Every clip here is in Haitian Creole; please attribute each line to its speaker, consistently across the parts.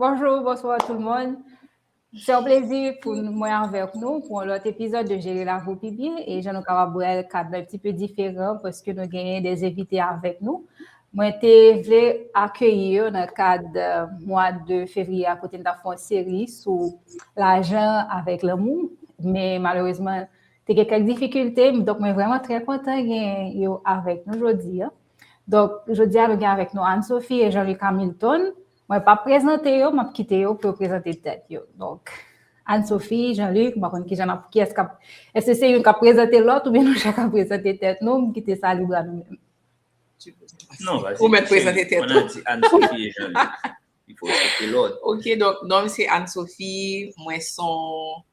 Speaker 1: Bonjou, bonswa tout moun. Se yon plezi pou mwen avèk nou pou yon lòt epizòd de Jere Lavi Pi Byen e jan nou kapab wè l kad mwen ti pe diferan paske nou genyen de envite avèk nou. Mwen te vle akeyi yo nan kad mwa de fevriye a kote n ta fon seri sou lajan avèk lanmou men malerezman te gen kèk difikilte donk mwen vreman trè kontan genyen yo avèk nou jodi a. Donk jodi a nou gen avèk nou Anne Sophie e Jean Luc Hamilton Mwen pap prezante yo, map kite yo pou yo prezante tèt yo. Donk, Anne Sophie, Jean Luc, mwen konn ki jan ap ki eskap, eske se yon kap prezante lòt ou byen nou chak ap prezante tèt nou, m kite sa libra nou menm. Non, vas-y. Ou mèt prezante tèt
Speaker 2: ou. Mwen ap di Anne Sophie et Jean
Speaker 3: Luc. Il faut
Speaker 2: respecter l'ordre. Ok, donk, non m se
Speaker 3: Anne Sophie, mwen son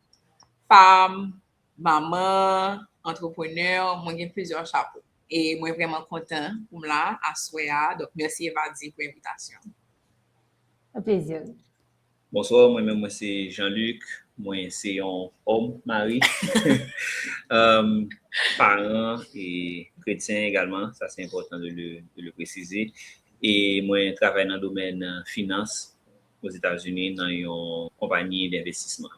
Speaker 3: fam, Manman, entrepreneur, mwen gen plizyè chapo. E mwen vrèman kontan pou m la aswè a. Donk mèsi Evadie pou envitasyon
Speaker 1: an. A plaisir. Bonsoir
Speaker 2: mwen menm mwen se Jean Luc mwen se yon homme mari parent e chretien egalman sa se enpòtan de le presize e mwen travay nan domèn finans o Zeta Zuni nan yon konpani denvestisman.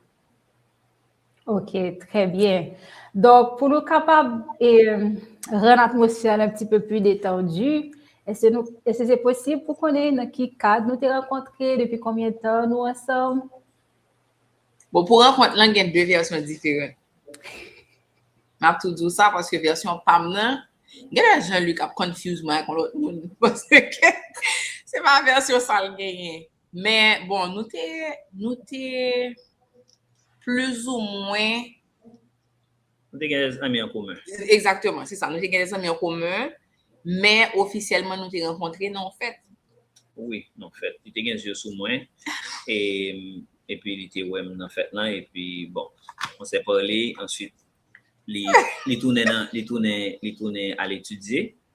Speaker 1: Ok, trè byen. Donk, pou nou kapab rann atmosfè an anptipe pli detandu, èske se posib pou konnen nan ki kad nou te rankontre, depi konbyen tan nou ansanm?
Speaker 3: Bon, pou rankont lan gen de vèsyon diferan. M ap tou di w sa paske vèsyon pa m nan, genlè Jean Luc ap confuse mwen ak yon lòt moun paske se pa vèsyon sa l genyen. Men, bon, nou te, nou te plizoumwen.
Speaker 2: Nou te gen de zanmi an komen. Egzakteman, se sa. Nou
Speaker 3: te gen de zanmi an komen, men ofisyèlman nou te rankontre nan yon fèt. Wi, nan
Speaker 2: yon fèt. Li te gen zye sou mwen, epi li te wè m nan fèt lan, epi, bon, on sè pale, answit li tounen nan, li tounen, li tounen al etidye.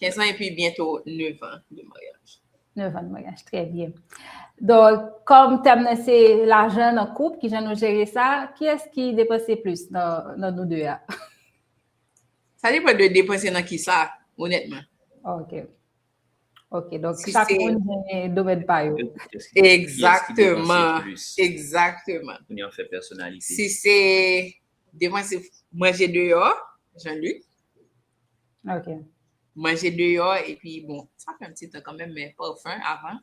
Speaker 2: 15 ans
Speaker 3: epi byento 9 ans de maryaj. 9 ans de maryaj,
Speaker 1: trè byen. Donk, kòm tèm nan se lajan nan koup, kijan nou jere sa, kiyès ki depanse plis nan nou 2 a?
Speaker 3: Sa depan de depanse nan kisa, onètman. Ok.
Speaker 1: Ok, donk chak moun gen domèn pa yo. Egzakteman,
Speaker 3: egzakteman. Kounye an fè
Speaker 2: pèsonalite. Si se
Speaker 3: depanse manje deyò, Jean-Luc.
Speaker 1: Ok. Manje
Speaker 3: deyò, epi bon, sa pran ti tan kanmenm men parfum avan.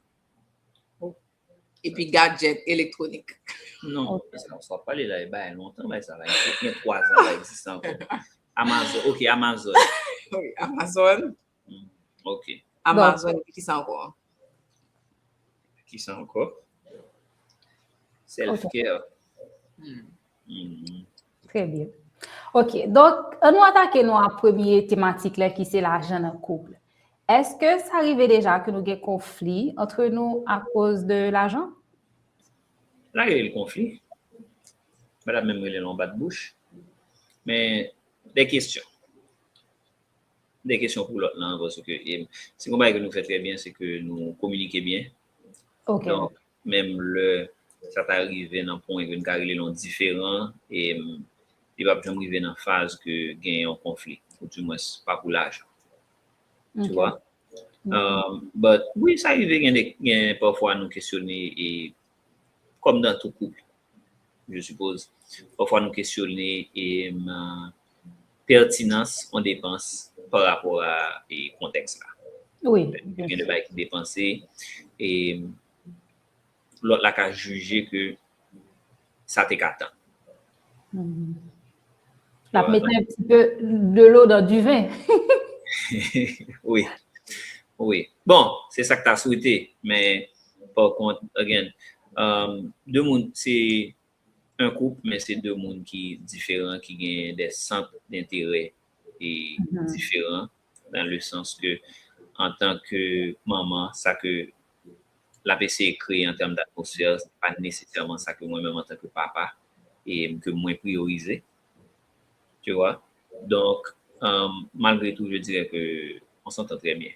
Speaker 3: Epi gadget elektronik. Non,
Speaker 2: sa wap pale la e bay lontan bay sa la. Gen 3 zan la egziste anko. Amazon, ok Amazon. Wi,
Speaker 3: Amazon. Ok.
Speaker 2: Amazon epi
Speaker 3: kisa anko?
Speaker 2: Kisa anko? Self care. Hmm.
Speaker 1: Trè byen. Ok, donk an nou atake nou a premye tematik la ki se lajan nan koup. Eske sa rive deja ke nou gen konfli antre nou akoz de lajan? M
Speaker 2: pa rele l konfli, m pa ta menm rele l yon bat bouch, men de kesyon. De kesyon pou lòt lan, paske se yon bagay ke nou fè trè byen, se ke nou kominike byen. Ok. Donk,
Speaker 1: Menm
Speaker 2: lè sa ta rive nan pwen ke n ka rele l yon diferan, li pap janm rive nan faz ke gen yon konfli, ou di mwens pa pou lajan. Tu wè? But, wi sa rive gen de, gen pafwa nou kesyone e, kòm nan tout koup, je suppose, pafwa nou kesyone e, pètinans on depans pa rapò a kontèks la. Wi. Gen
Speaker 1: de bagay ki
Speaker 2: depanse e lòt la ka jije ke sa te ka tann.
Speaker 1: L ap mete yon ti pe de lo dan di ven.
Speaker 2: Wi. Wi. Bon, se sa k ta swete men pa kont, again, de moun se 1 koup men se 2 moun ki diferan ki gen dè sant denterè e diferan nan le sans ke antan ke manman sa ke lap eseye kreye an tèm d'atmosfè se pa nesesèman sa ke mwen menm antan ke papa e ke mwen priyorize tu wè donk malgre tou je dirè ke on s'entend trè byen.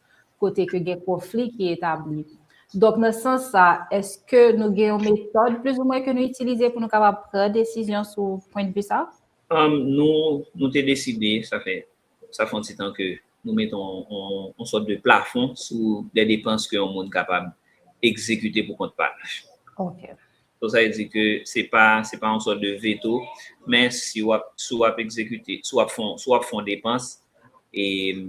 Speaker 1: kote ke gen konfli ki etabli. Donk nan sans sa, eske nou gen yon metòd plis ou mwen ke nou itilize pou nou kapab pran desizyon sou pwen de vi sa? Nou
Speaker 2: te deside, sa fè sa fè yon ti tan ke nou mete yon sòt de plafon sou de depans ke yon moun kapab egzekite pou kont pa l. Ok.
Speaker 1: Donk sa vle di
Speaker 2: ke se pa se pa yon sòt de veto men si w ap si w ap egzekite si w ap fon si w ap fon depans e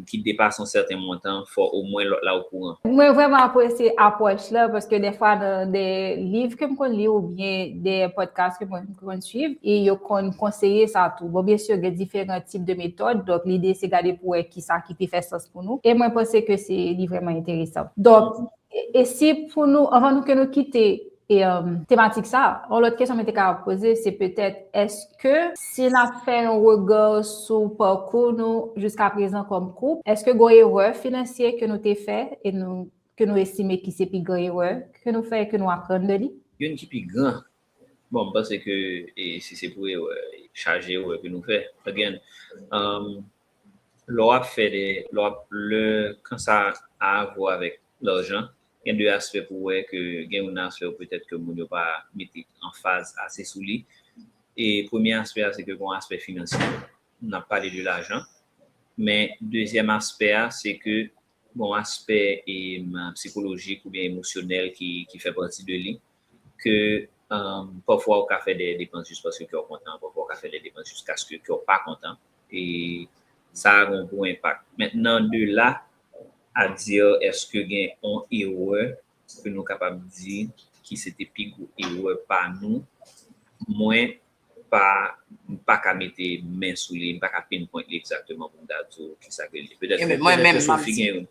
Speaker 2: ki depase yon sèten montan fò omwen lòt la okouran. Mwen vrèman apresye
Speaker 1: apwòch la paske dèfwa nan de liv ke m konn li oubyen de pòdkas ke mwen konn suiv e yo konn konseye sa tou. Bon byensi gen diferan tip de metòd donk lide se gade pou wè kisa ki pi fè sans pou nou e mwen panse ke se li vrèman enteresan. Donk e si pou nou anvan nou ke nou kite E tematik sa, yon lòt kesyon mwen te ka ap poze, se petèt, eske si n ap fè yon rega sou pakou nou jiska prezan kòm koup, eske gon erè finansye ke nou te fè e nou, ke nou estime ki se pi gran erè ke nou fè e ke nou aprann de li? Youn ki pi gran,
Speaker 2: bon m panse ke e si se pou erè, chaje erè ke nou fè, again, lè w ap fè de, lè w ap, lè, kan sa a avwa avèk lajan, Gen de aspè pou wè ke gen yon aspè ou petèt ke moun yo pa mete anfaz ase sou li. E premye aspè a se ke gon aspè finansye. N ap pale de lajan. Men dezyèm aspè a se ke gon aspè psikolojik oubyen emosyonèl ki fè pati de li. ke pafwa ou ka fè dèyè depans jis paske kè w kontan, pafwa ou ka fè dèyè depans jiskaske kè w pa kontan e sa gen yon gwo enpak. Mentnan de la a di èske gen yon erè ke nou kapab di ki se te pi gwo erè pa nou, mwen pa m pa ka mete men sou li, m pa ka pinpoint li egzakteman pou m ta di w kisa ke l ye. Petèt ke Filozofi gen yon.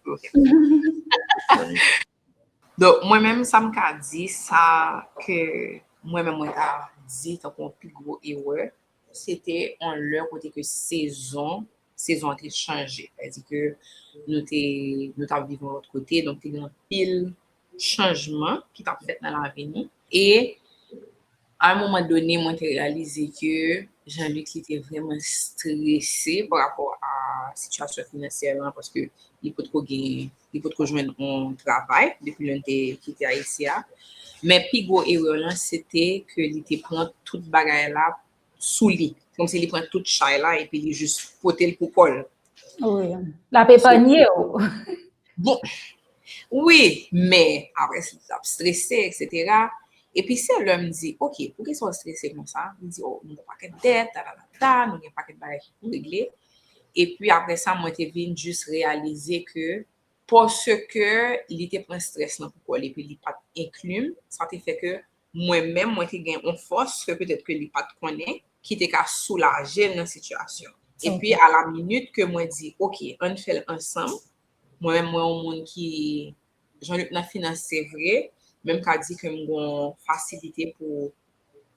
Speaker 3: Donk mwen menm sa m ka di, sa ke mwen menm mwen ta di tankou yon pi gwo erè, se te yon lè kote ke sezon, sezon an te chanje. Sa vle di ke nou te, nou t ap viv yon lòt kote, donk te gen anpil chanjman ki t ap fèt nan lavi nou e. A un moment donné mwen te reyalize ke Jean Luc li te vrèman strese pa rapò a sitiyasyon finansyè lan paske li potko gen, li potko jwenn on travay depi lè n te kite Ayiti a. Men pi gwo erè lan se te ke li te pran tout bagay la sou li. Kòmsi li pran tout chay la epi li jis pote l pou kò l.
Speaker 1: La pe pa nye ou.
Speaker 3: Bon, wi, men, apre si sa ap strese, et cetera, e pi se lè m di, ok, pou ki sa ou strese kon sa, li di, oh, nou gen pakèt dèt, ta ta ta ta, nou gen pakèt bagay ki pou regle, e pi apre sa mwen te vin jis reyalize ke, paske li te pran stress lan pou kò li, e pi li pa t enkli m, sa te fè ke mwen menm mwen te gen on fòs ke petèt ke li pat konnen ki te ka soulajel nan sitiyasyon. Epi a la minit ke mwen di ok ann fèl ansanm, mwen menm mwen on moun ki jan li t nan finans se vre, men m ka di ke m gon fasilite pou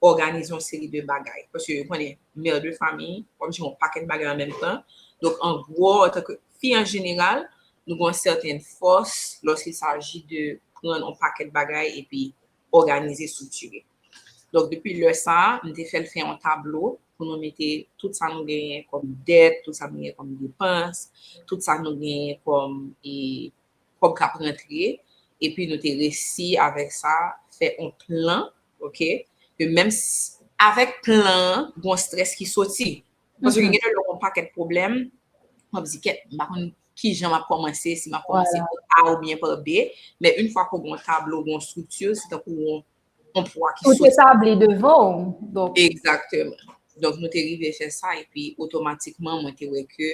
Speaker 3: òganize on seri de bagay. Paske ou konnen mère de famille wap jere on pakèt bagay an menm tan. Donk an gwo antanke fi an jeneral nou gon sèten fòs lòske saji de prann on pakèt bagay epi òganize, striktire. Donk depi lè sa a, m te fè l fè yon tablo pou nou mete tout sa nou genyen kòm dèt, tout sa nou genyen kòm depans, tout sa nou genyen kòm kòb k ap rantre, epi nou te resi avèk sa fè yon plan, ok, ke menm si avèk plan an, gen yon strès ki soti, Paske gen de lè ou gen yon pakèt pwoblèm, ou ap di kèt, m pa konn ki jan m ap kòmanse, si m ap kòmanse pa a ou byen pa de, men yon fwa ke ou gen yon tablo, gen yon estrikti, se tankou yon pwa ki soti. Tout etabli devan
Speaker 1: ou, donk. Egzakteman.
Speaker 3: Donk nou te rive fè sa, epi otomatikman mwen te wè ke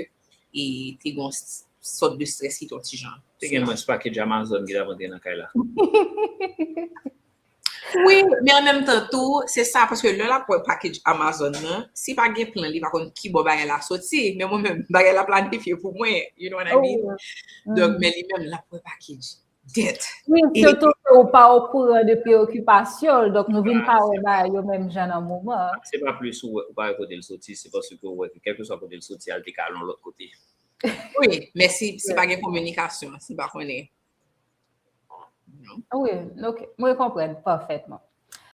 Speaker 3: e te gen yon sòt de strès ki te yon ti jan. Te gen mwens pakèt
Speaker 2: Amazon ki t ap antre nan kay la.
Speaker 3: Wi, men an menm tan tou, se sa paske lè l ap wè package Amazon nan, si pa gen plan li pa konn ki bò bagay la soti, men mwen menm bagay la planifye pou mwen, you know what I mean?
Speaker 1: Donk
Speaker 3: men li menm l ap wè package debt. Wi, sitou ke ou
Speaker 1: pa okouran de preokipasyon l, donk nou vin pa wè bagay yo menm jan nan moman an. Se pa plis ou
Speaker 2: pa wè kote l soti, se paske ou wè ke kèlkeswa kote l soti a, l te ka al yon lòt kote. Wi,
Speaker 3: men si pa gen kominikasyon, si pa
Speaker 1: konnen. Mwen konpren, pafètman.